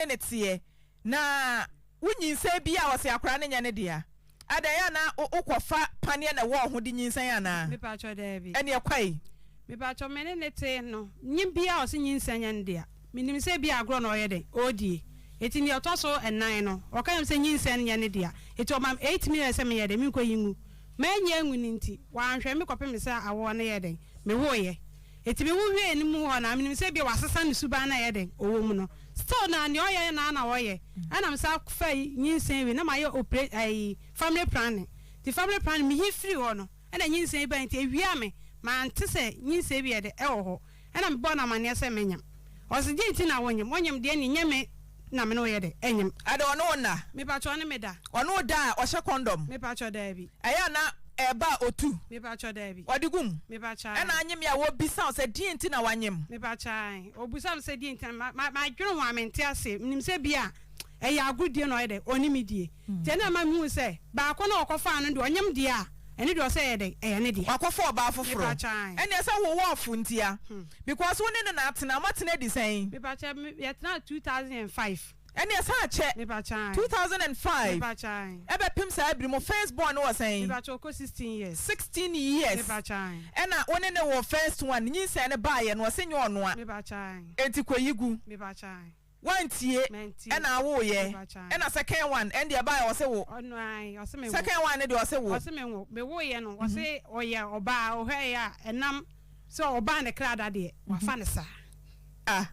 ne ne teɛ na wo nyinsɛn biaa a ɔse akwadaa no nyɛ ne dea adɛn ɛyɛ a na wo kɔ fa paneɛ na ɛwɔ ho de nyinsɛn anaa Mepakyɛ daabi ɛneɛ kwae. Mepakyɛ me ne ne tee no nye biaa a ɔse nyinsɛn nyɛ ne dea menim sɛ ebi a agorɔ na ɔyɛ dɛn ɔredie eti neɛ ɔtɔ so ɛnan no ɔka kyerɛ me sɛ nyinsɛn nyɛ ne dea eti ɔma me eight minutes sɛ menyɛ dɛn menkɔ yi ngu mɛnyi angu no nti wanhwɛ me kɔpem sɛ awoɔ no yɛɛ dɛn mewoeɛ Enti me ho hwiee ne mu hɔ na menim sɛ ebia wasesa ne suban na ɛyɛ dɛn ɔwɔ mu no still na nea ɔyɛ no ara na ɔyɛ ɛna me san faa nyinsɛn wie na mayɛ opre ɛyi family planning nti family planning me he firii hɔ no ɛna nyinsɛn yi bae nti ɛwia me mante sɛ nyinsɛn bi yɛ dɛ ɛwɔ hɔ ɛna mebɔɔ no amaneɛ sɛ menyem ɔse deɛ nti na wonyem wonyem deɛ ne nyɛ me Na me ne wo yɛ dɛ ɛnyem. Ɛdɛ ɔne wo nna. Mepakyɛ ɔne me da. Ɔne wo da a ɔhyɛ kɔndɔm. Mepakyɛ daabi. Ɛyɛ a na ɛɛba a otu. Mepakyɛ daabi. Ɔde gu mu. Mepakyɛ ae. Ɛna anyem yɛ a wobisa wo sɛ deɛn nti na wanyem. Mepakyɛ ae. Obisa me sɛ deɛn nti na ma ma dwene ho a mente aseɛ. Menim sɛ bi a ɛyɛ agoredie na ɔyɛ dɛ ɔne me die. Nti ɛna ɛma mehu sɛ baako no a ɔkɔfaa no deɛ ɔnyem deɛ a. Ɛno deɛ ɔsɛ ɛyɛ dɛn? Ɛyɛ ne deɛ. Wakɔfa ɔbaa foforɔ. Mepakyɛ ae. Ɛnneɛ sɛ wo wɔ ɔfo ntia. Because wo ne no na atena. Mo atena di sɛn? Mepakyɛ me, yɛ tenaa two thousand and five. Ɛnneɛ san kyɛ. Mepakyɛ ae. Two thousand and five. Mepakyɛ ae. Ɛbɛpem saa abiri mo first born no wɔ sɛn? Mepakyɛ ɔkɔ sixteen years. Sixteen years. Mepakyɛ ae. Ɛna wo ne no wɔ first one, nyinsɛn no baaeɛ no, ɔse nyɛ ɔnoa. Mepakyɛ ae. Enti kɔ yi gu. Mepakyɛ ae. Wantie ɛna awoo yɛ ɛna second one ɛnde ɛbaɛ ɔse wo second one no deɛ ɔse wo. Ɔse me wo me woo yɛ no ɔse ɔyɛ ɔbaa ɔhwɛ yɛ a ɛnam sɛ ɔbaa ne kra da deɛ wafa no saa. Ah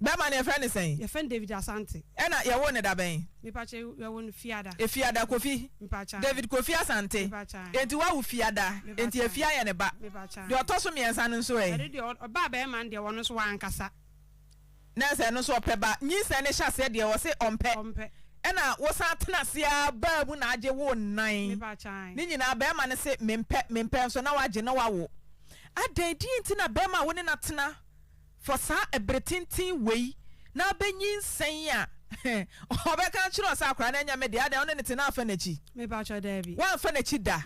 bɛma no yɛfrɛ no sɛn. Yɛfrɛ no David Asante. Ɛna yɛwoo no da bɛn. Mepakyɛ yɛwoo no fiada. Efiada kofi. Mepakyɛ. David kofi Asante. Mepakyɛ. Enti wawo fiada. Mepakyɛ. Enti efi ayɛ ne ba. Mepakyɛ. Deɛ ɔtɔ so mmiɛnsa no nso ɛ. Ɛde deɛ ɔbaa bɛrima no deɛ ɔno nso wankasa. Na sɛ ɛno nso ɔpɛ ba, nyinsɛn no hyɛ aseɛ deɛ ɔse ɔmpɛ, ɛna wosan tena ase ara baa mu na agye wo nnan, ne nyinaa barima no se mempɛ, mempɛ nso na wagye na wawo. Adɛn deɛn nti na barima a wo ne no atena for saa ɛbere tenten wei na abɛ nyinsɛn a ɔbɛka akyerɛ wo sɛ akwadaa no ɛnyɛ me deɛ, adɛn wo ne no te na amfa n'akyi? Woamfa n'akyi da?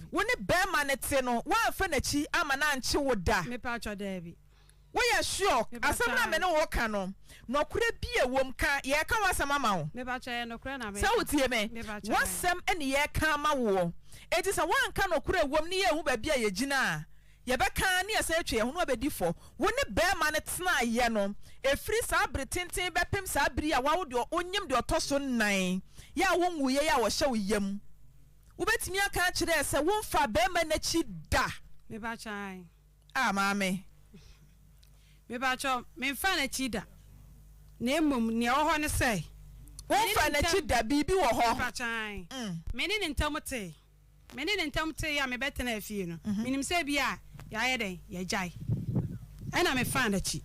Wo ne barima no te no woamfa n'akyi amma no ankye wo da? Woyɛ sure? Asɛm no a me ne wo reka no, nɔkorɛ bi a ɛwɔ mu ka. Yɛreka w'asɛm ama wo. Sɛ wotie me, w'asɛm na yɛreka ama woɔ. Enti sɛ woanka nɔkorɛ a ɛwɔ mu ne yɛanhu baabi a yɛgyina a, yɛbɛka ara ne yɛasan atwa yɛn ho no abɛdi fɔ. Wo ne barima no tenaeɛ no, ɛfiri saa bere tenten bɛpem saa bere yi a woawo deɛ ɔnyem deɛ ɔtɔ so nnan yi a wonwuiɛ yi a ɔhyɛ wo yam. Wobɛtumi aka akyerɛ sɛ womfaa barima no akyi da? Ah Maame, mepakyɛ wo, memfaa no akyi da, na mmom nea ɛwɔ hɔ ne sɛ, me ne ne ntam. Womfaa n'akyi da, biribi wɔ hɔ. Mepakyɛ ae. Me ne ne ntam tee, me ne ne ntam tee a mebɛtenaa fie no, menim sɛ ebia yɛayɛ dɛn, yɛagyae. Ɛnna mefaa n'akyi.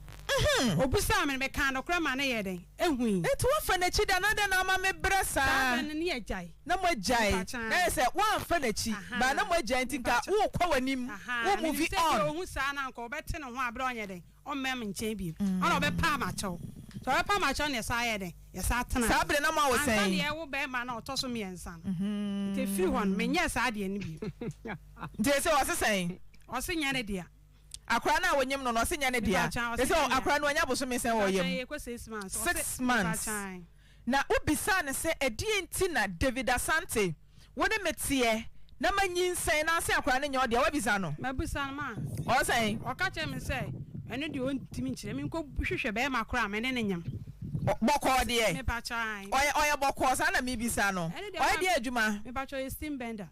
Obisaa me no, mekaa nokorɛ ma no yɛɛ dɛn? Ehui. Enti woafa n'akyi da, na adɛn na ama mebrɛ saa? Saa bere no ne yɛagyae. na moagyae na ayɛ sɛ woamfa n'akyi ba na moagyae nti nka worekɔ w'anim wo movie on. Saa bere na moawo sɛn? Nti ese ɔse sɛn? Akwadaa no a wonyem no no ɔse nyɛ ne dea? Ese akwadaa no wanya bosome sɛn wɔ yam? Six months. Na wobisaa no sɛ, Ɛdeɛn nti na David Asante, wo ne me teɛ na manyinsɛn na ase akwadaa no nyɛ ɔdea? Woabisa no? Mabisa no, ma. Ɔyɛ sɛn? Ɔka kyerɛɛ me sɛ, Ɛno deɛ ɔntumi nkyerɛ. Menkɔhwehwɛ bɛrima korɔ a me ne no nyem. Bɔkɔɔ deɛ? Mepakyɛw, aane. Ɔyɛ, ɔyɛ bɔkɔɔ? Saa na mebisa no. Ɛno deɛ, ɔyɛ. Ɔyɛ deɛn adwuma? Mepakyɛw, ɔyɛ steam bender.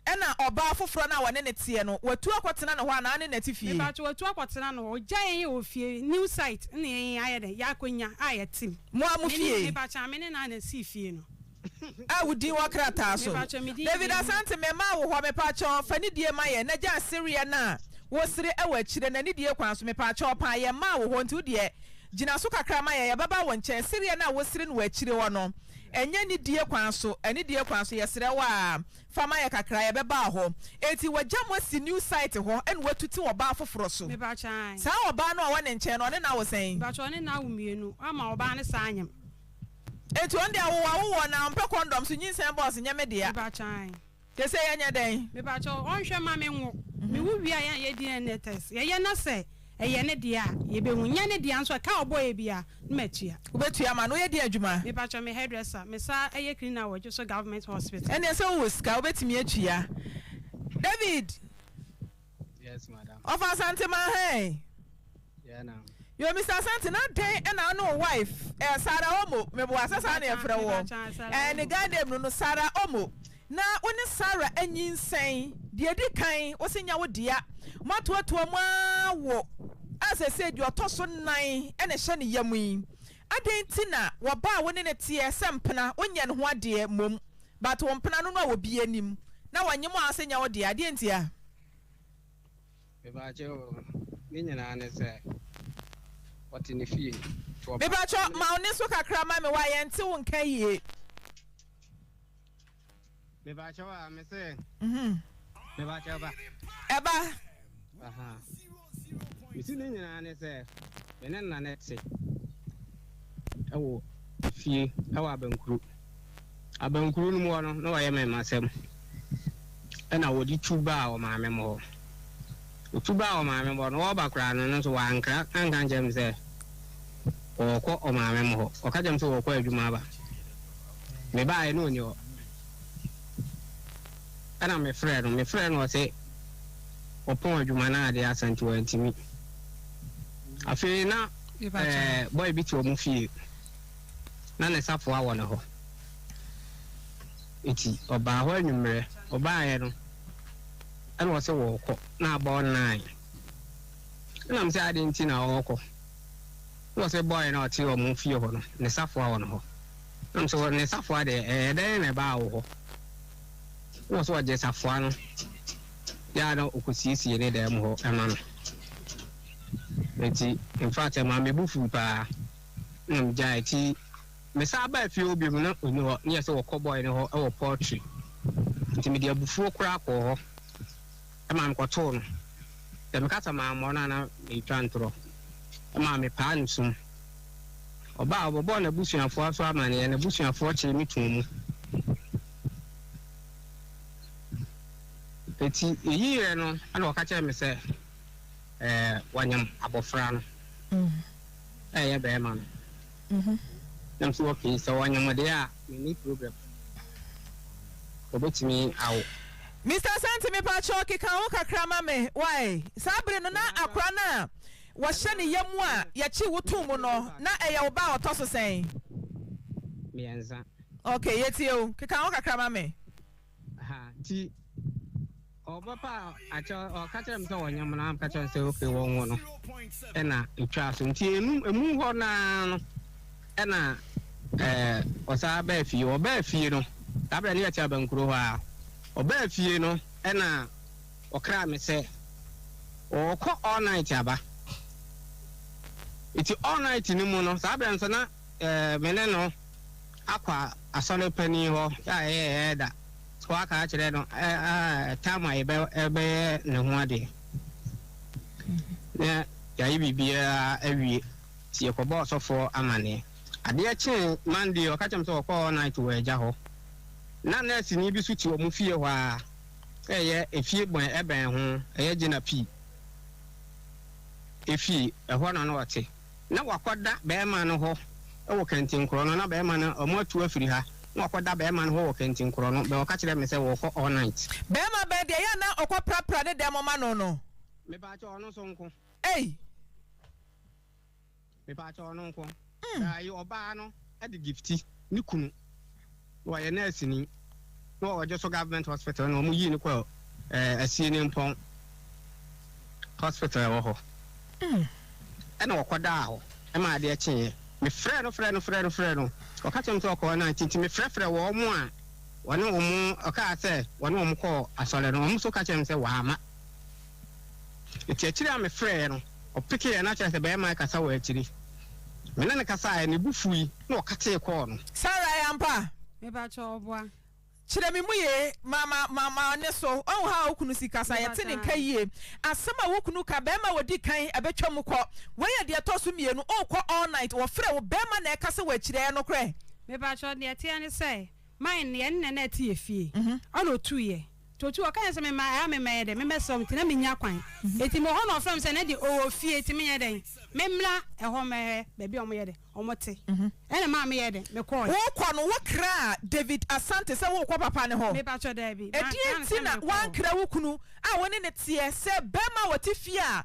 Ɛna ɔbaa foforɔ no a wɔne no teɛ no, watu akɔtena ne hɔ anaa ne nati fie? Mepa kyɛw, watu akɔtena ne hɔ. Ogya yɛn wɔ fie, new site na yɛn ayɛ dɛn, yɛ akonya a yɛtem. Mo a mo fie. Mepa kyɛw, me ne no a na sii fie no. A wo din wɔ krataa so. Mepa kyɛw, me din. David Asante, mɛma wo hɔ, mepa kyɛw, fa nidie ma yɛn, na gyaa sereɛ no a wo sere wɔ akyire no, anidie kwan so, mepa kyɛw paa, yɛn maa wo hɔ, nti wo deɛ gyina so kakra ma yɛn, yɛbɛba wo nkyɛn, sereɛ no a wo sere no wɔ akyire hɔ no, Ɛnyɛ ne die kwan so, ɛne deɛ kwan so, yɛsrɛ wo aa, fa ma yɛ kakra, yɛbɛba hɔ. Enti wagya mo asi new site hɔ ɛna watuti ɔbaa foforɔ so. Mepakyɛ ae. Saa ɔbaa no a ɔwɔ ne nkyɛn no, ɔne no awo sɛn? Mepakyɛ ɔne no awo mmienu, wama ɔbaa no saa nyem. Enti ɔno deɛ awowawoɔ na ɔmpɛ kɔndɔm so, nyinsɛn bɔs nyɛ me dea. Mepakyɛ ae. Kese yɛ nyɛ dɛn? Mepakyɛw ɔnhwɛ ma me nwo. Me wo wie a yɛn yɛ DNA test yɛ yɛ na sɛ ɛyɛ ne deɛ a yɛ bɛ hu nyɛ ne deɛ nso a ka a ɔbɔ yɛ bia no ma tua. Wo bɛ tua ma no yɛ deɛ adwuma? Mepakyɛw me hairdresser me sa ɛyɛ cleaner wɔ Dwoso government hospital. Ɛneɛ sɛ wo wɔ sika wo bɛ tumi atua David. Yes, madam. Of Asante Manhain. Yeah, now. Yo, Mr. Asante, na den na wo ne wo wife, eh, Sarah Omo, meboa sɛ saa na yɛfrɛ wɔ. Eh, ne guy name no no, Sarah Omo. Na wo ne Sarah anyinsɛn, deɛ di kan, wo se nya wo dea. Moatoatoa mu ara wo, a sɛsei deɛ ɔtɔ so nnan na ɛhyɛ ne yam yi. Adɛn nti na wɔba a wo ne no teɛ sɛ mpena wo nyɛ ne ho adeɛ mmom but wo mpena no no a wɔ bi anim na wɔ nyem aa sɛ nyɛ wo deɛ adeɛ nti a. Me ba kye oo ne nyinaa ne sɛ ɔte ne fie nti ɔba a. Mepakyɛ ma wo ne so kakra ma me wa yɛnte wo nka yie. Mebakyɛw a me sɛ. Mhm. Mebakyɛw ba. Ɛba. Aha. Mesi ne nyinaa ne sɛ me ne nna ne te ɛwɔ fie ɛwɔ abankuru. Abankuru no mu hɔ no na wɔyɛ me masɛm. Ɛna wɔde tu baa wɔ maame mu hɔ. Otu baa wɔ maame mu hɔ no wɔba koraa no no nso wankra anka nkyɛn me sɛ wɔkɔ ɔmaame mu hɔ. Ɔka kyɛn me sɛ wɔkɔ adwuma aba. Mebaeɛ na ɔnni hɔ. Ɛna mefrɛɛ no, mefrɛɛ no ɔse ɔpɔn adwuma no adeɛ asa nti wantumi. Afei na ɛɛ boy bi te ɔmo fie na ne safoa wɔ ne hɔ. Nti ɔbaa hɔ anwummerɛ, ɔbaeɛ no ɛna ɔse ɔɔkɔ na abɔ nine. Ɛna mese adɛn nti na ɔɔkɔ? Na ɔsɛ bɔe no a ɔte wɔn fie hɔ no, ne safoa wɔ ne hɔ. Na ɔsɛ wɔ ne safoa deɛ, ɛɛ dɛn na ɛbaa wo hɔ? Na ɔsɛ ɔgye safoa no yɛ a na ɔkɔsiesie ne dan mu hɔ ma no. Nti, in fact, ɛmaa me bo fui paa, na megyae. Nti, mesan baa fie hɔ biom, na ɔnni hɔ. Na yɛ sɛ wɔkɔ bɔe no hɔ wɔ poultry. Nti mede abufuo koraa kɔɔ hɔ. maa mekɔtoo no. Sɛ meka sɛ mammɔ no a, na meretwa ntorɔ. Ɛmaa mepaa no sum. Ɔbaa a, ɔbɛbɔɔ n'abusuafoɔ nso amanneɛ. N'abusuafoɔ kyeree me too mu. Enti yɛyi yerɛ no, ɛna ɔka kyerɛɛ me sɛ wɔanyam abɔfra no a ɛyɛ barima no. ho. Na me nso wɔ pii, sɛ wɔanya mo deɛ a menni problem, wɔbɛtumi awo. Mister Santi me pakyɛw keka ho kakra ma me wai saa bere no na akora no a wɔhyɛ ne yam a yɛkye wo too mu no na ɛyɛ wo ba a ɔtɔ so sɛn? Miɛnsa. Okay yɛtie wo, keka ho kakra ma me. ha nti ɔbɛpa akyɛ ɔka kyerɛ me sɛ wɔnyɛ mo na ka kyerɛ sɛ ok wɔnwo no ɛna ɛtwaa so nti ɛnum ɛmu hɔ naa no ɛna ɛɛ ɔsaa bɛɛ fie ɔbɛɛ fie no saa berɛ ne yɛte abankuro hɔ a ɔbɛɛ fie no ɛna ɔkra me sɛ ɔkɔ all night aba nti all night no mu no saa berɛ nso na ɛɛ me ne no akɔ asɔre panin hɔ a ɛyɛ ɛɛda hɔ aka akyerɛ no a tam a yɛbɛ ɛbɛyɛ ne ho adeɛ na yɛayɛ biribiara awie nti yɛkɔbɔ ɔsɔfoɔ amaneɛ adeɛ kyee Monday ɔka kyerɛ me sɛ wɔkɔɔ all night wɔ agya hɔ na nɛɛseni bi so te wɔn fie hɔ a ɛyɛ efie bɔn ɛbɛn ho ɛyɛ gyina pii efie ɛhɔ na na ɔte. Na wakɔda bɛɛma no hɔ wɔ kɛntenkorɔ no, na bɛɛma no, ɔmo atu afiri ha, na wakɔda bɛɛma no hɔ wɔ kɛntenkorɔ no, bɛ ɔka kyerɛɛ me sɛ wɔɔkɔ all night. Bɛɛma bɛn deɛ ɛyɛ a na ɔkɔ prapra ne dɛm ma no no? Me paakyɛw ɔno nso nko. Ei! Me paakyɛw ɔno nko. Mm. Bɛɛ ayi ɔbaa no de Gifty ne kunu. Ɔyɛ nɛɛseni na ɔgye so government hospital na wɔyii no kɔɔ Asienimpɔn hospital wɔ hɔ na ɔkɔdaa hɔ ma adeɛ kyeeɛ. Mefrɛɛ no frɛɛ no frɛɛ no frɛɛ no ɔka kyerɛɛ me sɛ ɔkɔɔ night nti mefrɛfrɛɛ wɔn a wɔne wɔn ɔkaa sɛ wɔne wɔn kɔɔ asɔre no wɔn nso ka kyerɛɛ me sɛ wɔamma. Ntsi ekyir a mefrɛɛ no, ɔpekeeɛ na kyerɛ sɛ bɛrima rekasa wɔ ekyir. Me ne no kasaeɛ no, bo fuui na ɔkatee kɔɔ no. Sarah yɛ ampa a. Mepakyɛ wo boa. Kyerɛ me mu yie ma ma ma ma ne so ɔhu how a wo kunu si kasa yɛte ne nka yie asɛm a wo kunu ka bɛɛma a wɔdi kan ɛbɛtwa mu kɔ wei yɛ deɛ ɛtɔ so mmienu ɔɔkɔ all night wɔfrɛ wo bɛɛma na ɛkasa wɔ akyire ɛyɛ nokorɛ. Mepakyɛ deɛ ɛteɛ ne sɛ. Mae no yɛ ne na na ɛte yɛ fie ɛna ɔtuu yɛ nti ɔtuu ɔka yɛ sɛ me ma ɛa me mɛyɛ dɛn me mɛsrɛ ɔmo nti na me nnya kwan nti mewɔ hɔ na ɔfrɛ me sɛ Nadi ɔwɔ fie nti me nyɛ dɛn me mmra ɛhɔ mɛhwɛ baabi a ɔmo yɛ dɛn ɔmo te ɛna ɛmaa me yɛɛ dɛn me kɔɔɛ. Wo kɔ no wo kraa David Asante sɛ wo kɔ papa no hɔ? Me pakyɛ daabi ɛdeɛn nti na wankra wo kunu a wo ne no teɛ sɛ bɛɛma a ɔte fie a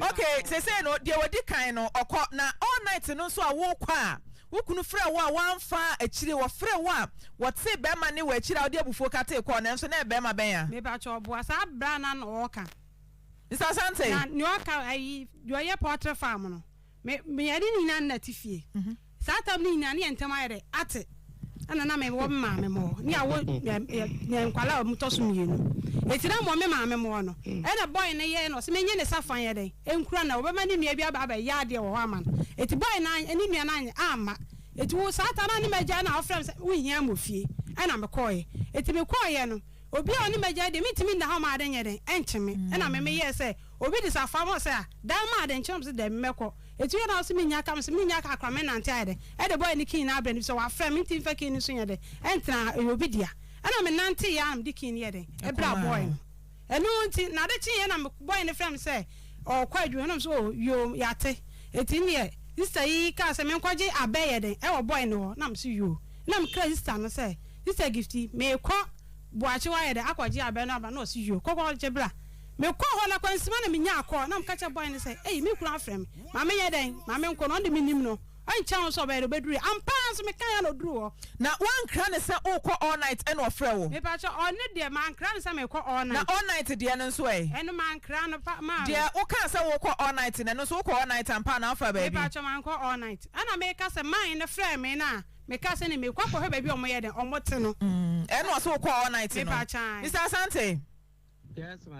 Ok sesei no deɛ wadi kan no ɔkɔ na all night no nso a wokɔ a wo kunu frɛ wo a wamfa a akyire wɔfrɛ wo a wɔtee bɛɛma ne wɔ akyire a wode abufuo katee kɔɔ nanso na ɛyɛ bɛɛma bɛn a. Mepakyɛw boa saa bra no ano ɔɔka. Mister Asante. Na nea ɔka ayi deɛ ɔyɛ poultry farm no me me yɛne ne nyinaa nna te fie. Saa tam no nyinaa ne yɛn ntam ayɛ dɛ ate ɛna na mewɔ me maame mɔ ne awo yɛ nkwala a ɔmotɔ so mmienu eti na mɔ me maame mɔ no ɛna bɔy no yɛ ɛna ɔsɛ menye ne sa fan yɛ dɛn ɛnkura na ɔbɛma ne nua bi aba abɛ yɛ adeɛ wɔ hɔ ama no eti bɔy no ne nua no anyɛ amma eti wo saa ta na ne magya na ɔfrɛ me sɛ wo hia mɔ fie ɛna mekɔɔ yɛ eti mekɔɔ yɛ no obi a ɔne magya deɛ mentumi nna hɔ ma ade nyɛ dɛn ɛnkye me ɛna me meyɛɛ sɛ obi de sa fa ma ɔsɛ a dan ma ade nkye na ɔsɛ daabi mɛkɔ. Etu yɛ na ɔse minnya ka, mese minnya ka koraa, mɛnante ayɛ dɛ ɛde boy no key no abrɛ no efisɛ wafrɛ me nti mfa key no nso nyɛ dɛ ɛntra ha, ɛyɛ obi dea. Ɛna menantee ara na mede key no yɛɛ dɛn? ɛbraa boy no. Ɛno nti na ade kyeeɛ na boy no frɛɛ me sɛ ɔɔkɔ adwuma na mese oh yoo yɛate. Enti neɛ sister yi kaa sɛ menkɔgye abɛ yɛ dɛn ɛwɔ boy no hɔ na mese yoo. Na mekra sister no sɛ sister Gifty meekɔ Boakye hɔ ayɛ dɛn akɔgye abɛ no aba na ɔse yoo kɔ kɔgye bra. Mekɔɔ hɔ no, akwansima na minyaa kɔɔ. Na meka kyerɛɛ bɔe no sɛ, 'Ei, me kunu afrɛ me. Ma menyɛ dɛn? Ma menkɔ no? Ɔno de, minnim no. Ɛnkyɛ ho nso ɔbae, na obedurui. Ampa ara nso, mekae ara na oduruu hɔ. Na woankra no sɛ worekɔ all night ɛna ɔfrɛɛ wo? Mepakyɛw, ɔno deɛ, mankra no sɛ merekɔ all night. Na all night deɛ no nso ɛ? Ɛno, mankra no, pa, maa no. Deɛ wokaa sɛ worekɔ all night no, ɛno nso wokɔ all night ampa anaa wofaa baabi? Mepakyɛw, mankɔ all night. Ɛna meka sɛ, man no frɛɛ me na mekaa sɛ, ɛnde merekɔ akɔhwɛ baabi a wɔyɛ dɛn? Wɔte no. Ɛna ɔse wokɔɔ all night no? Mepakyɛw, ae. Mister Asante.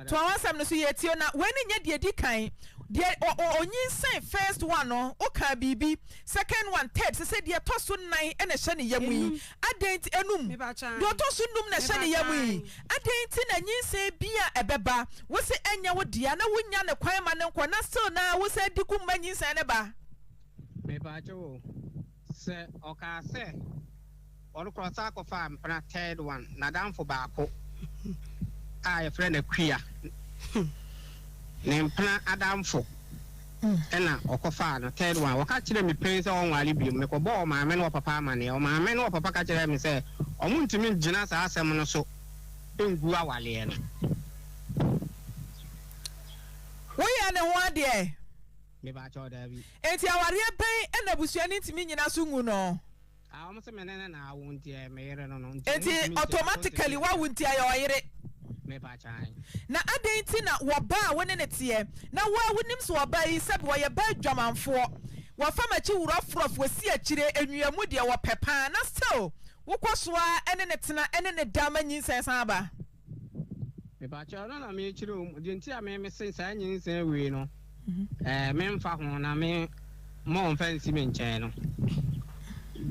Toa w'asɛm no so, yɛretie wo. Na wei no nyɛ deɛ ɛdi kan, deɛ ɔnyinsɛn first one no, wokaa biribi, second one, third, sɛsɛ deɛ ɛtɔ so nnan na ɛhyɛ ne yam yi, adɛn nti, nnum, deɛ ɔtɔ so nnum na ɛhyɛ ne yam yi, adɛn nti na nyinsɛn biara a ɛbɛba, wose ɛnyɛ wo dea, na wonnya no kwan ma no nkɔ, na still no ara wosan di gu mma nyinsɛn no ba? Sɛ ɔkaa sɛ ɔrekɔ ɔsan kɔfaa mpena third one nadamfo baako a yɛfrɛ no Akua ne mpena adamfo ɛna ɔkɔfaa no third one ɔka kyerɛ me pɛn sɛ ɔnwale biom mekɔbɔɔ ɔmaame ne ɔpapa amaneɛ ɔmaame ne ɔpapa ka kyerɛ me sɛ ɔmo ntumi ngyina saa asɛm no so ngu awaleɛ no. Woyɛ ne ho adeɛ. Me pa kyɛw daabi. Enti awareɛ bɛn na busuani ntumi nyina so nwu no? A wɔn se me ne no na awo nti ɛyɛ me yere no no nti Enti ɔntumi ntua so nti automatically meyɛ wawo nti ɛyɛ ɔyere. Me pa kyan. Na adɛn nti na wɔ ba a wo ne no teɛ na wo a wonim sɛ ɔbaa yi sɛbi ɔyɛ ba adwamanfoɔ wɔfa makyi wrɔfrɔf wɔsi akyire awia mu deɛ wɔpɛ paa na still wo kɔ so ara ne no tena ne no da ma nyinsɛn san ba? Mepakyɛw ɔno na mekyerɛ omu deɛ nti a me mese saa nyinsɛn wei no ɛɛ me nfa ho na me mma ɔnfa nsi me nkyɛn no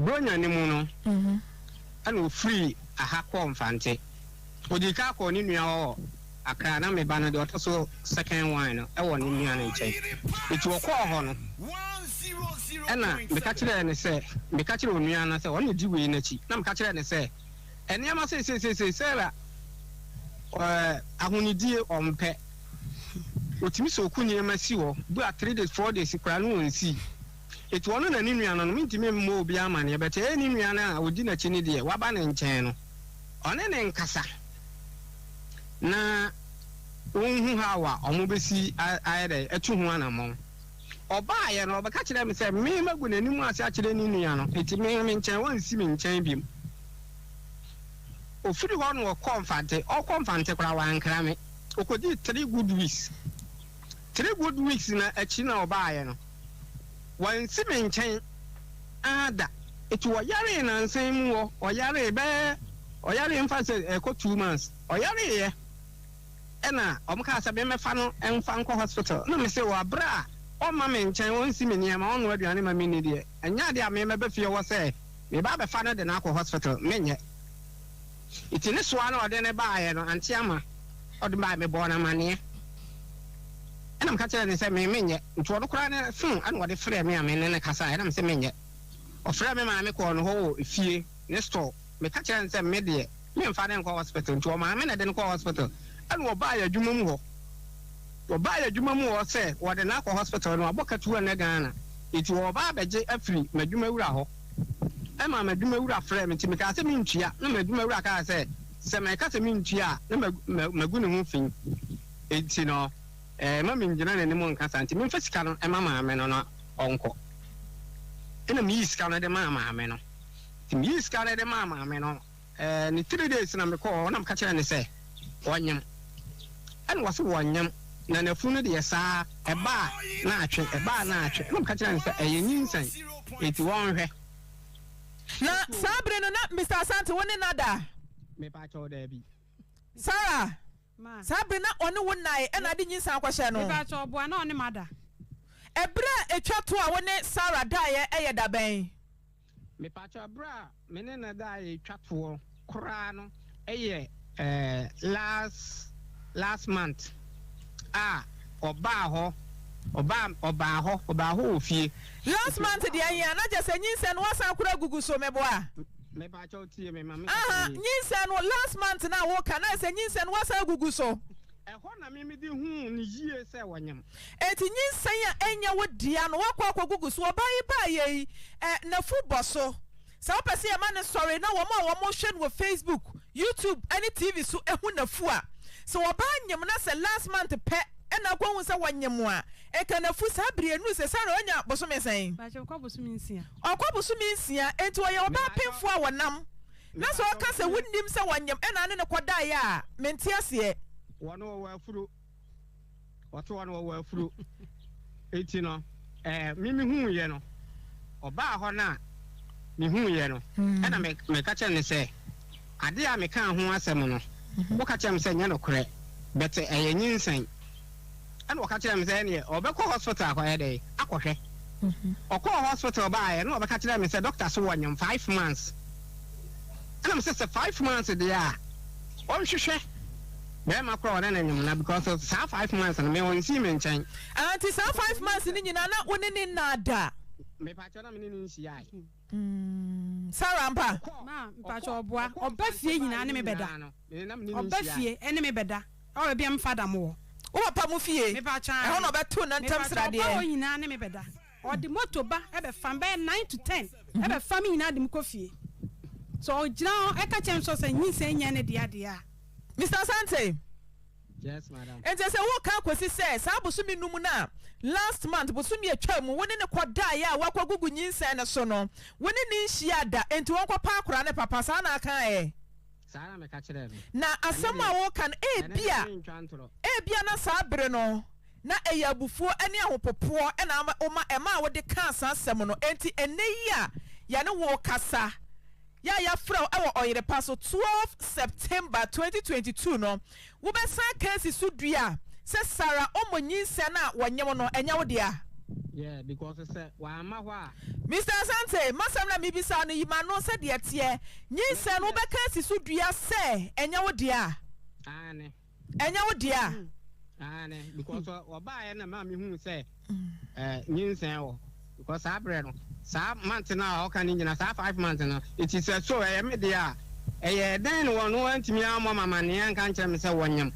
Bronya no mu no ɛna ofiri aha kɔɔ Mfante ɔdii kan kɔɔ ne nua hɔ wɔ Accra na me ba no deɛ ɔtɔ so second one no ɛwɔ ne nua no nkyɛn nti ɔkɔɔ hɔ no ɛna meka kyerɛɛ no sɛ meka kyerɛɛ onua no sɛ ɔno na ɔdi wei no akyi na meka kyerɛɛ no sɛ Nneɛma seiseisei Sarah eh, ahonidie ɔmpɛ. Ɔtumi sɛ ɔku nneɛma si hɔ bu a three days four days koraa no ɔnsii. Ɛti ɔno na ne nua no no mentumi mmɔ obi amaneɛ but ɛyɛ ne nua no a ɔdi n'akyi no deɛ waba ne nkyɛn no ɔne ne nkasa na ɔnhu how a wɔbɛsi ayɛ dɛ atu ho anammɔn. Ɔbaeɛ no, ɔbɛka kyerɛɛ me sɛ, Me magu n'anim ase akyerɛ ne nua no, enti me me nkyɛn, ɔnsi me nkyɛn bio. Ɔfiri hɔ no ɔkɔɔ Mfante, ɔrekɔ Mfante koraa wankra me. Ɔkɔdii three good weeks. Three good weeks no akyi na ɔbaeɛ no, wansi me nkyɛn ara da. Enti ɔyaree nnansa yi mu hɔ, ɔyaree bɛyɛ, ɔyaree mfa sɛ ɛrekɔ two months, ɔyareeɛ. Ɛna wɔn kaa sɛ me mmɛfa no mfa nkɔ hospital. Ɛna me se wɔ aberɛ a ɔmma me nkyɛn, ɔnsi me nneɛma, ɔnnoa aduane ma me nni deɛ, ɛnyɛ adeɛ a me mɛba fie hɔ sɛ meba abɛfa no de no akɔ hospital, menyɛ. Nti ne soa na ɔde no baeɛ no, ante ama ɔde baeɛ, mebɔɔ no amaneɛ. Ɛna meka kyerɛɛ no sɛ me menyɛ. Nti ɔno koraa ne phone ɛna ɔde frɛɛ me a me ne no kasaeɛ, ɛna me se menyɛ. Ɔfrɛɛ me maame kɔɔ ne hɔ wɔ efie, ne store. Meka kyerɛɛ no sɛ me deɛ memfa no nkɔ hospital nti ɔmaa me na ɛde no kɔɔ hospital ɛna ɔbaa yɛn adwuma mu hɔ ɔbaa yɛn adwuma mu hɔ sɛ wɔde no akɔ hospital na wabɔ katuo nnɛ Ghana nti ɔreba abɛgye afiri m'adwuma wura hɔ ɛmaa m'adwuma wura frɛɛ me nti mekaa sɛ mentua na m'adwuma wura kaa sɛ sɛ meka sɛ mentua a na magu ne ho fi nti no ɛma mengyina n'anim nka saa nti memfa sika no ɛma maame no na ɔnkɔ ɛna meyii sika no de maa maame no. Meyii sika no de maa maame no. Ɛɛ ne three days na mekɔɔ hɔ na meka kyerɛɛ no sɛ ɔnyem. Ɛna ɔse wɔnyem na nafunu no deɛ saa ɛba a na atwe, ɛba a na atwe. Ɛna meka kyerɛɛ no sɛ ɛyɛ nyinsɛn enti wɔnhwɛ. Na saa bere no na Mister Asante wo ne no ada? Mepakyɛw daabi. Sarah, Ma. Saa bere na ɔne wo nnae ɛna ade nyinsɛn akɔhyɛ no? Mepakyɛw ɔboa na ɔne m'ada. Ɛbere a ɛtwa to a wo ne Sarah daeɛ ɛyɛ da bɛn? Mepakyɛw bere a me ne no daa retwa toɔ koraa no yɛ last last month a ɔbaa hɔ ɔbaa ɔbaa hɔ ɔbaa hɔ wɔ fie. Last month deɛ ɛhe a na kyɛ sɛ nyinsɛn no wasan kura gugu so meboa. Mepakyɛw tie me ma me kasa nie. Ahaa nyinsɛn no last month no a woka na ayɛ sɛ nyinsɛn no wasan agugu so. Ɛhɔ na meme de huu no yie sɛ wanyam. Enti nyinsɛn a ɛnyɛ wo dea no woakɔ akɔgugu so. Ɔbaa yi baeɛ yi, ɛ, n'afu bɔ so. Sɛ wopɛ sɛ yɛma no sɔre na wɔn a wɔhwɛ no wɔ Facebook, YouTube ne TV so hu n'afu a, sɛ ɔbaa nyem na sɛ last month pɛ na akɔhu sɛ wanyem a, nka n'afu saa bere yi ɛnuru sɛ saa na ɔnya bosome sɛn? Ɔkɔ bosome nsia. Ɔkɔ bosome nsia, enti ɔyɛ ɔbaa pemfoɔ a ɔnam. Na sɛ ɔka sɛ, 'Wonnim sɛ wɔnyem, ɛnna ɔne no kɔdaeɛ a, mente aseɛ. Wɔne wɔwɔ afuro, wɔto wɔne wɔwɔ afuro. Enti no, eh, me mehuuiɛ no, ɔbaa hɔ no a, mehuuiɛ no, ɛnna me, meka kyerɛɛ no sɛ, Adeɛ a mekaa ho asɛm no, woka kyerɛɛ me sɛ ɛnyɛ nokorɛ, but ɛyɛ nyinsɛn. Ɛna ɔka kyerɛɛ me sɛ ɛneɛ ɔbɛkɔ hospital akɔyɛ dɛn? Akɔhwɛ. Ɔkɔɔ hospital baeɛ na ɔbɛka kyerɛɛ me sɛ doctor se wɔnyem five months. Ɛna me sɛ sɛ five months deɛ a ɔnhwehwɛ bɛrima korɔ a ɔne no nyem na because saa five months no me ɔnsi me nkyɛn. Ɛnti saa five months no nyinaa na wo ne no nnaa da? Mepaakyɛw na me ne no nhyiaae. Mm, Sarah ampa? Ma, mpakyɛ ɔboa. Ɔba fie nyinaa ne me bɛda. Ɔba fie ɛne me bɛda. Ɛwɔ baabi a mefa da mo wɔ. Wo papa mo fie? Mepakyɛ ae. Ɛhɔ na ɔbɛto ne ntɛm sradeɛ. Mepakyɛ ɔba hɔ nyinaa ne me bɛda. Ɔde moto ba ɛbɛfa me, bɛyɛ nine to ten. Mhm. Ɛbɛfa me nyinaa de me kɔ fie. Sɛ ɔgyina hɔ ɛka kyerɛ me sɛ ɔsɛ nyinsɛn nyɛ ne dea deɛ a. Mister Asante. Enti ɛsɛ wokan kosi sɛ saa bosome num no a last month, bosome a ɛtwaa mu, wo ne no kɔdaeɛ a woakɔgugu nyinsɛn no so no, wo ne no nhyiaa da, enti ɔnkɔpa akwadaa no papa. Saa na akaeɛ. Na asɛm a woreka no, ebia, ebia na saa bere no na ɛyɛ abufuo ne ahopopoɔ na ama, woma, ɛmaa wode kaa saa asɛm no. Enti ɛnnɛ yi a yɛne wo rekasa, Yɛ a yɛafrɛ wo wɔ Ɔyere Pa so, twelve September twenty twenty two no, wobɛsan Kasi so dua sɛ Sarah Omo nyinsɛn no a wɔnyem no, ɛnyɛ wo dea. Yeah, because sɛ w'amma hɔ a. Mister Asante, m'asɛm na mebisa wo no, yi m'ano sɛ deɛ ɛteɛ, nyinsɛn no wobɛKasi so dua sɛ ɛnyɛ wo dea? Aane. ɛnyɛ wo deɛ a. aane because ɔ ɔbaeɛ na ɛmaa mehuu sɛ ɛɛ nyinsɛn wɔ because saa berɛ no saa month no a ɔka no nyina saa five month no it is a so ɛyɛ me deɛ a ɛyɛ dɛn na wɔn antumi ammɔ me amanneɛ anka nkyerɛ me sɛ wɔnyam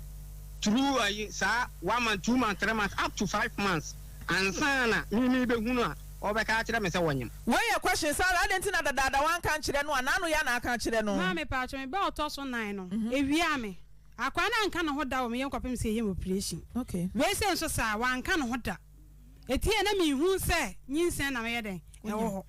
through ayi saa one month two month three month up to five months ansa na me mebɛhunu a ɔbɛka akyerɛ me sɛ wɔnyam. Wei yɛ question saa adɛn nti na dadaada wanka nkyerɛ no a n'ano yɛ na aka akyerɛ no. Maame paatwo me ba ɔtɔ so nan no ewiaa me. Akoa no anka ne ho da wɔ me yɛ nkɔpem sɛ yɛyɛ me operation. Wei sɛ nso saa, wanka ne ho da. Eti yɛ na me nhu sɛ nyinsɛn na me yɛ dɛn? Ɛwɔ hɔ.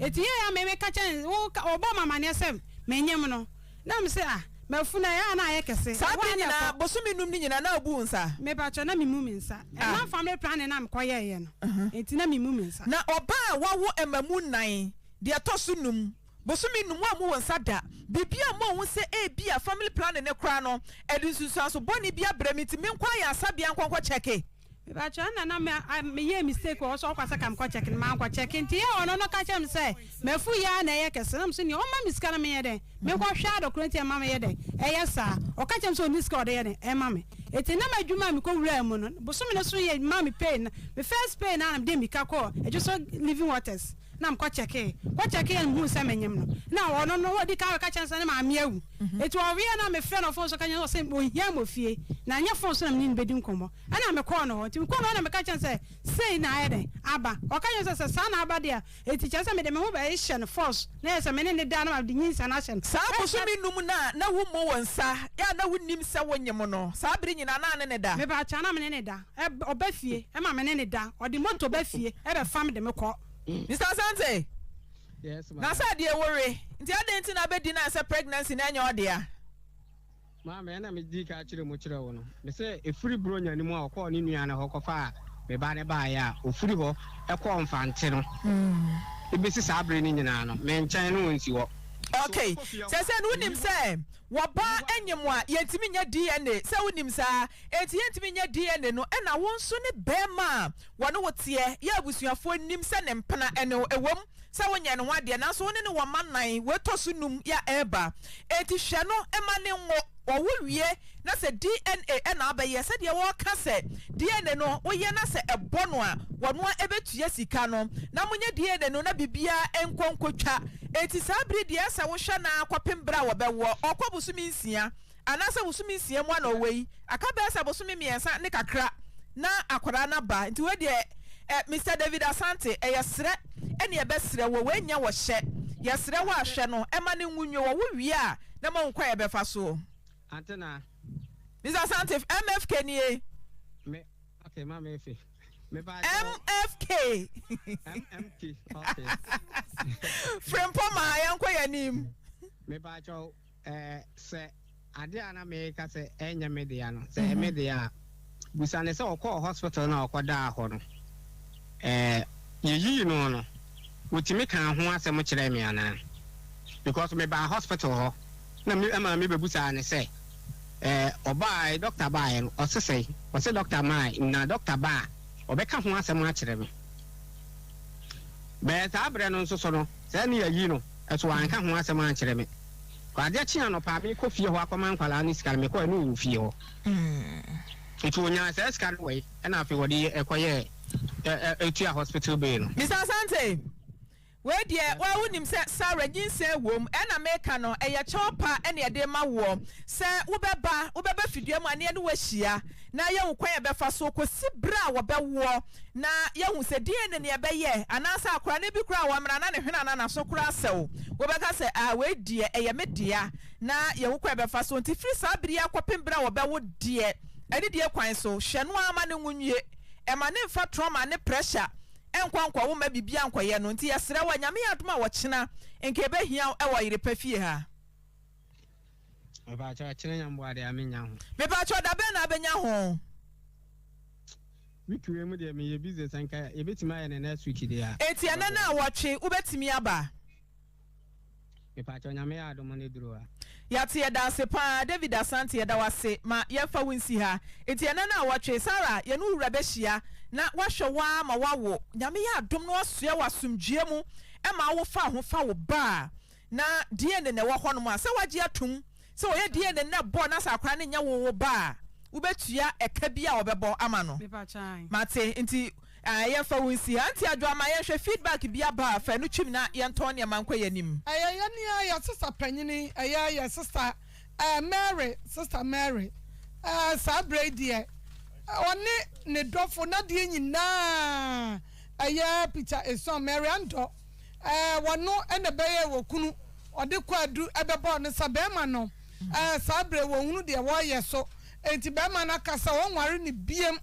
Eti yɛ ya me me ka kyɛn, wo ka, wo bɔ ma maneɛ sɛ me nyem no. Na me se ah, mafu na ɛyɛ a na ayɛ kɛse. Saa bere nyinaa, bosome num no nyinaa na obu wo nsa? Me pakyɛ, na me mu me nsa. Ɛnam family planning na me kɔ yɛɛ yɛ no, enti na me mu me nsa. Na ɔbaa a wawo ɛmamu nnan, deɛ ɛtɔ so num, Bosome num a mowɔ nsa da biribi a moahu sɛ ebia family planning no koraa no ɛde nsunsuanso bɔne bi abrɛ me nti menkɔ ayarsabea nkɔ nkɔ kyɛke. Mepakyɛw ɛna na me a me yɛɛ mistake wɔ hɔ sɛ ɔkɔ sɛ ka me kɔ kyɛke no mankɔ kyɛke nti yɛ ɔno no ka kyerɛ me sɛ mafu yɛ a na ɛyɛ kɛse na me so nea ɔma me sika no menyɛ dɛn menkɔ hwɛ a dɔkorɔ nti ɛma me yɛ dɛn ɛyɛ saa ɔka kyerɛ me sɛ ɔnni sika a ɔde yɛ dɛn ɛma me ɛti na m'adwuma a mekɔ wuraa mu no bosome no so yɛ ma me pay na me first pay no a na mede mmirika kɔɔ adwo so living waters na mekɔ kyɛkee kɔ kyɛkee a mehuu sɛ menyem no na ɔno no ɔdi kan ɔka kyerɛ sɛ ne maame awu eti ɔweɛ na mefrɛ no fon so ka kyerɛ no sɛ ohia mɔ fie na nyɛ fon so na mene no bɛdi nkɔmmɔ ɛna mekɔɔ no hɔ nti mekɔɔ no hɔ na meka kyerɛ no sɛ sei na ayɛ dɛn aba ɔka kyerɛ sɛ sɛ saa na aba deɛ a eti kyerɛ sɛ mede me ho bɛhyɛ no force na yɛ sɛ mene ne da na mede nyinsa no ahyɛ no Saa bosome num no a na wommɔ wo nsa yɛ a na wonnim sɛ wonyem no saa bere nyinaa na ne ne da? Mepaakyɛw na mene ne da. Ɔba fie ma me ne no da. Ɔde moto ba fie bɛfa me de me kɔ. Mister Asante, Yes ma. Na sɛ deɛ wo we nti adɛn nti na abɛdi na sɛ pregnancy no ɛnyɛ ɔdea? Maame ɛna me dii kan kyerɛ mu kyerɛ wo no me sɛ ɛfiri Buronya no mu a ɔkɔɔ ne nua no hɔ kɔfaa me ba no baeɛ a ɔfiri hɔ kɔɔ Mfante no de bɛsi saa bere no nyinaa no me nkyɛn na ɔnsi hɔ. Okay, sɛsɛ no wonim sɛ Wɔ ba nye mo a yɛntumi nyɛ DNA sɛ wonim saa enti yɛntumi nyɛ DNA no ɛna wo nso ne bɛɛma a wɔne wo teɛ yɛ abusuafoɔ nim sɛ ne mpena ɛne wo ɛwom sɛ wo nyɛɛ ne ho adeɛ nanso wo ne no wɔ mma nan wei tɔ so num ya ɛɛba enti hwɛ no mma ne nwo ɔwo wie na sɛ DNA ɛna abɛyɛ sɛdeɛ wɔ ka sɛ DNA no wo yɛ na sɛ ɛbɔ no a wɔnoa ɛbɛtua sika no na mo nyɛ DNA no na biribiara nkɔ nkɔ twa Enti saa bere deɛ ɛsɛ sɛ wohwɛ no ara kɔpem bere a wɔbɛwoɔ, ɔkɔ bosome nsia, anaasɛ bosome nsia mu a na ɔwɔ yi, aka bɛyɛ sɛ bosome mmiɛnsa ne kakra na akwadaa no aba, nti wei deɛ eh, Mister David Asante, ɛyɛ serɛ ne yɛbɛserɛ wo, wei nyɛ wɔ hyɛ, yɛserɛ wo a hwɛ no, ɛma no nwu nwo, ɔwo wie a na mo ahu kwan a yɛbɛfa so. Ante na. Mister Asante, MFK nie. Me, okay, ma me efe. MFK Frimpong ma yɛnkɔ yɛn anim. Mepaakyɛw eh, sɛ ade a na meka sɛ ɛnyɛ me dea no, sɛ ɛyɛ me mhm. dea a, busa ne sɛ ɔkɔɔ hospital na ɔkɔdaa hɔ no, eh, yeyii no no, wotumi kaa ho asɛm kyerɛɛ me anaa? Because mebaa hospital hɔ. Nna me maame bebusaa no sɛ, Ɛɛ, ɔbaae, dɔkta baaeɛ no, ɔse sɛn? Ɔse dɔkta mae, na dɔkta ba a, ɔbɛka ho asɛm akyerɛ me. Bɛyɛ saa berɛ no nso so no, saa Nia yi no nso wanka ho asɛm ankyerɛ me. Adeɛ kye anɔpa a, merekɔ fie hɔ akɔma nkwadaa no sika no, mekɔɛ no ɔwɔ fie hɔ. Nti ɔnyaa saa sika no wɛi, ɛna afei ɔde kɔyɛɛ tua hospital bill no. Mister Asante. Wei deɛ woa wonim sɛ Sarah nyinsɛn wom, ɛna meka no ɛyɛ kyɛw pa na yɛde ma woɔ, sɛ wobɛba wobɛba fidua mu a na yɛne wo ahyia na yɛahu kwan a yɛbɛfa so kɔsi berɛ a wɔbɛwoɔ na yɛahu sɛ deɛn ne nea ɛbɛyɛ anaasɛ akwadaa no bi koraa wɔ hɔ a mmerɛ a na ne hwene anaa n'aso koraa asɛ wo wobɛka sɛ ah wei deɛ ɛyɛ me dea na yɛahu kwan a yɛbɛfa so nti firi saa berɛ yi akɔpem berɛ a wɔbɛwo deɛ anidie kwan so hwɛ no ara ma ne nwo nwie ɛma ne mfa trɔma ne pressure nkɔ nkɔ wo mma biribiara nkɔyɛ no nti yɛsrɛ wo a Nyame yɛ adom a ɔkyena nka ɛbɛhia wo ɛwɔ yere pa fie ha. Mepakyɛw ɔkyena nya mboa deɛ a menya ho. Mepakyɛw dabɛn na abɛnya ho. Week wei mu deɛ meyɛ busy sɛ nka yɛbɛtumi ayɛ no next week deɛ a. Enti ɛnɛ no a wɔtwe wobɛtumi aba. Mepakyɛw nyame yɛ adom ne duru a. Yɛate yɛdaase paa David Asante yɛda wo ase ma yɛmfa wo nsi ha nti ɛnɛ na awɔtwe Sarah yɛne wo wura bɛhyia na wahwɛ wo ara ma wawo nyame yɛ adom na wasoɛ wo asomdwoeɛ mu ɛma awo fa ho fa wo ba a na DNA na ɛwɔ hɔnom a sɛ wagye atom sɛ ɔyɛ DNA na ɛbɔ na sɛ akora no nyɛ wo wo ba a wobɛtua ɛka bi a wɔbɛbɔ ama no mate nti Ɛɛ yɛmfa wo nsi ha. Nti Adwoa ma yɛnhwɛ feedback bi aba a fa ɛno twim na yɛntɔn nneɛma nkɔ yɛn anim. Ɛyɛ yɛn nua yɛn sista panyini ɛyɛ yɛn sista ɛɛ Mary sista Mary ɛɛ saa berɛ yi deɛ ɔne ne dɔfo n'adeɛ nyinaa ɛyɛ Peter Esuan Mary Andɔ ɛɛ wɔno ɛna ɛbɛyɛ wɔ kunu ɔde Kwadu ɛbɛbɔɔ no sa bɛɛma no ɛɛ saa berɛ yi wɔnhunu deɛ wɔyɛ so Enti barima no aka sɛ ɔrenware no biom.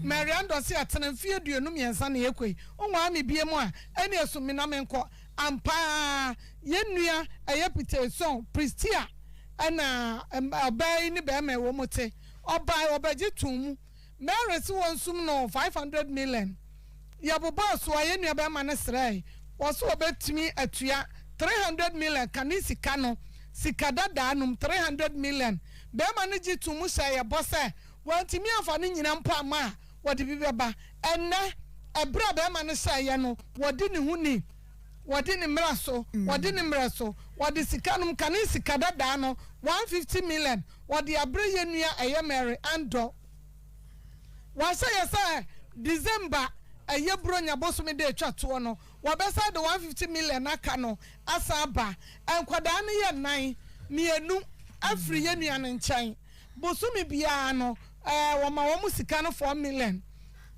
Marianne dɔ se atena mfeɛ aduonu mmiɛnsa na ɛrekɔ yi, wonware me biom a, ɛneɛ so mina menkɔ. Ampa ara, yɛn nua a ɛyɛ petee sɔn, Pristy a ɛna ɔbaa yi ne barima a wɔte, ɔbae, ɔbɛgye too mu. Mary se wɔnsum no five hundred million. Yɛbobɔɔ so a, yɛn nuabarima no srɛɛe, ɔse ɔbɛtumi atua 300 million ka ne sika no, sika dadaa nom 300 million. Barima no gye too mu hyɛɛ yɛn bɔ sɛ wantumi amfa no nyina mpo amma a, wɔde bi bɛba. Ɛnnɛ, ɛberɛ a barima no hyɛeɛ no, wɔdi ne ho ni, wɔdi ne mmerɛ so, wɔdi ne mmerɛ so. Wɔde sika nom ka ne sika dadaa no, 150 million, wɔde aberɛ yɛn nua ɛyɛ Mary Andor. Wɔahyɛ yɛ sɛ December ɛyɛ Buronya bosome da ɛtwa toɔ no wɔbɛsan de 150 million aka no asan aba. Nkwadaa no yɛ nnan, mmienu afiri yɛ nua no nkyɛn. Bosome biara no wɔma wɔn sika no 4 million.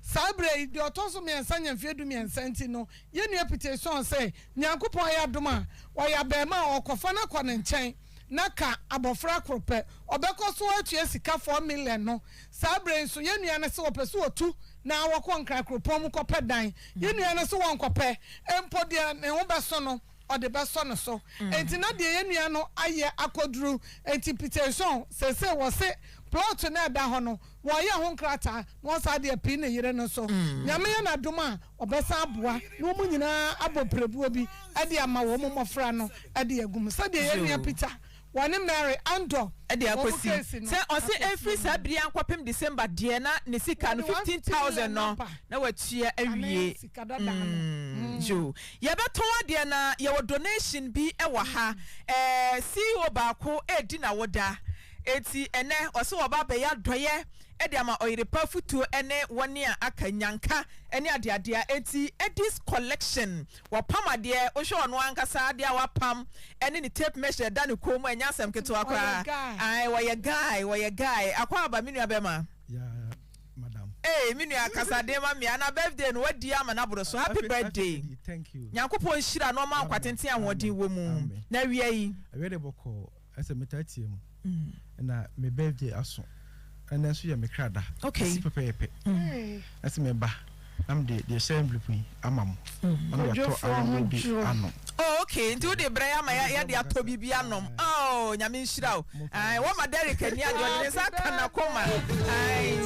Saa berɛ yi deɛ ɔtɔ so mmiɛnsa nya mfeɛ du mmiɛnsa nti no yɛ nua Piteson se Nyankopɔn ayɛ adom a ɔyɛ abarimaa a ɔkɔfa no akɔ ne nkyɛn. na ka abɔfra koro pɛ, ɔbɛkɔ so atua sika four million no. Saa berɛ yi nso, yɛn nua no se wɔpɛ sɛ wɔtu na wɔkɔ Nkran kuropɔn mu kɔpɛ dan. Yɛn nua no se wɔnkɔpɛ, mpo deɛ ne ho bɛso no, ɔde bɛsɔ ne so. Enti na deɛ yɛn nua no ayɛ akɔduru. Enti Peterson, seesei wɔse plot no a ɛda hɔ no, wɔreyɛ ho nkrataa na wɔsan de apii ne yere no nso. Nyame yɛ no adom a, Wɔbɛsan aboa na wɔn nyinaa abɔ pirebuo bi de ama wɔn mmɔfra no de agu mu, sɛdeɛ yɛn nua Peter, wɔne Mary Andor, de akɔsi sɛ ɔse ɛfiri saa bere yi ankɔpem December deɛ na ne sika no 15000 no na watua awie mm yoo yɛbɛtɔn adeɛ na yɛwɔ donation bi wɔ ha ɛɛ ceo baako ɛredi nawoda enti ɛnɛ ɔse wɔba abɛyɛ adɔeɛ de ama ɔyere pa afotuo ne wɔn a aka, nyanka ne adeadeɛ a enti Eddy's collection wɔpam adeɛ wohwɛ ɔno ankasa adeɛ a wapam ne ne tape measure ɛda ne kɔn mu ɛnyɛ asɛm ketewa koraa ae wɔyɛ guy wɔyɛ guy Akwaaba me nua bɛma ee me nua kasa den ma mmea na birthday no wadi ama no aboro so happy birthday Nyankopɔn nhyira na ɔma nkwatenten ahoɔden wɔ mu na awia yi Ɛsɛ metaa tie mu. Mm. Na me birthday aso. Ɛnɛ nso yɛ me kra da. Okay. Ɛsi pɛpɛɛpɛ. Mm. Ɛsɛ me ba. Na me de deɛ hyɛ envelope yi ama mo. Mm. Ɔno yɛ tɔ awodeɛ bi ano. Oh okay. Nti wo de brɛ ama ya ya de atɔ bibi anom. Oh nyame nhyira o. Ai wo ma Derek ani ade ɔde ne nsa aka na koma. Ai.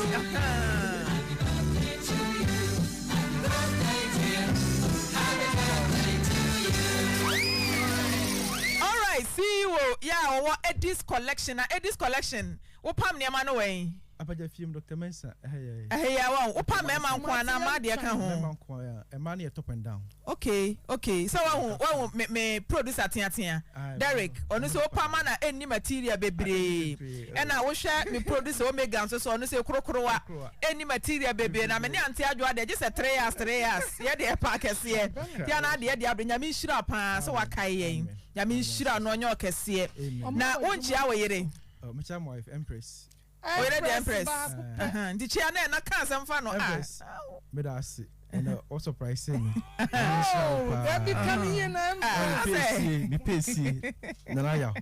Alright CEO yi a ɔwɔ Edis collection na Edis collection wo pam nneɛma no wɔ he? Apaja fie mu Doctor Mensah ɛhɛ yɛ. Ɛhɛ yɛ a wahu. Wo pam mɛma nkoa anaa mmaa deɛ ka ho? Mɛma nkoa a ɛmaa no yɛ top and down. Okay okay sɛ wahu wahu me me producer teatea Derrick ɔno sɛ opa ma na ɛnni material bebree ɛna wohwɛ me producer Omega nso sɛ ɔno sɛ korokorowa ɛnni material bebree na me ne Auntie Adwoa deɛ gye sɛ three years three years yɛ deɛ ɛpa akɛseɛ nti ana adeɛ ɛde abere Nyame nhyira paa sɛ wakae yɛn Nyame nhyira no ɔnyɛ ɔkɛseɛ na wonkyia wo yere. Oh, mekyia my wife, Empress. Oye ne deɛ empress baako pɛ. Ahaa nti kyea ne ɛna ka asɛm fa no ah. Meda ase ɛnɛ wo surprise me nyame nhyira wo paa. Dabi ka ne yie na empress. Mepɛ sie mepɛ sie Nana Yaw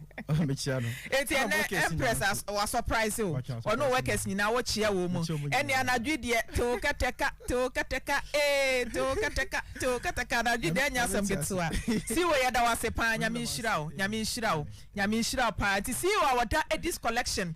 mekyea no. Enti ɛnɛ empress wa surprise wo ɔne wo workers nyinaa wo kyea wɔn mu ɛne anadwo yi deɛ te wo kɛtɛ ka te wo kɛtɛ ka ee te wo kɛtɛ ka. Too katakata adwen deɛ ɛnyɛ asɛm ketewa Ceo yɛda wo ase paa Nyame nhyira wo Nyame nhyira wo Nyame nhyira wo paa nti Ceo a ɔda Edis collection.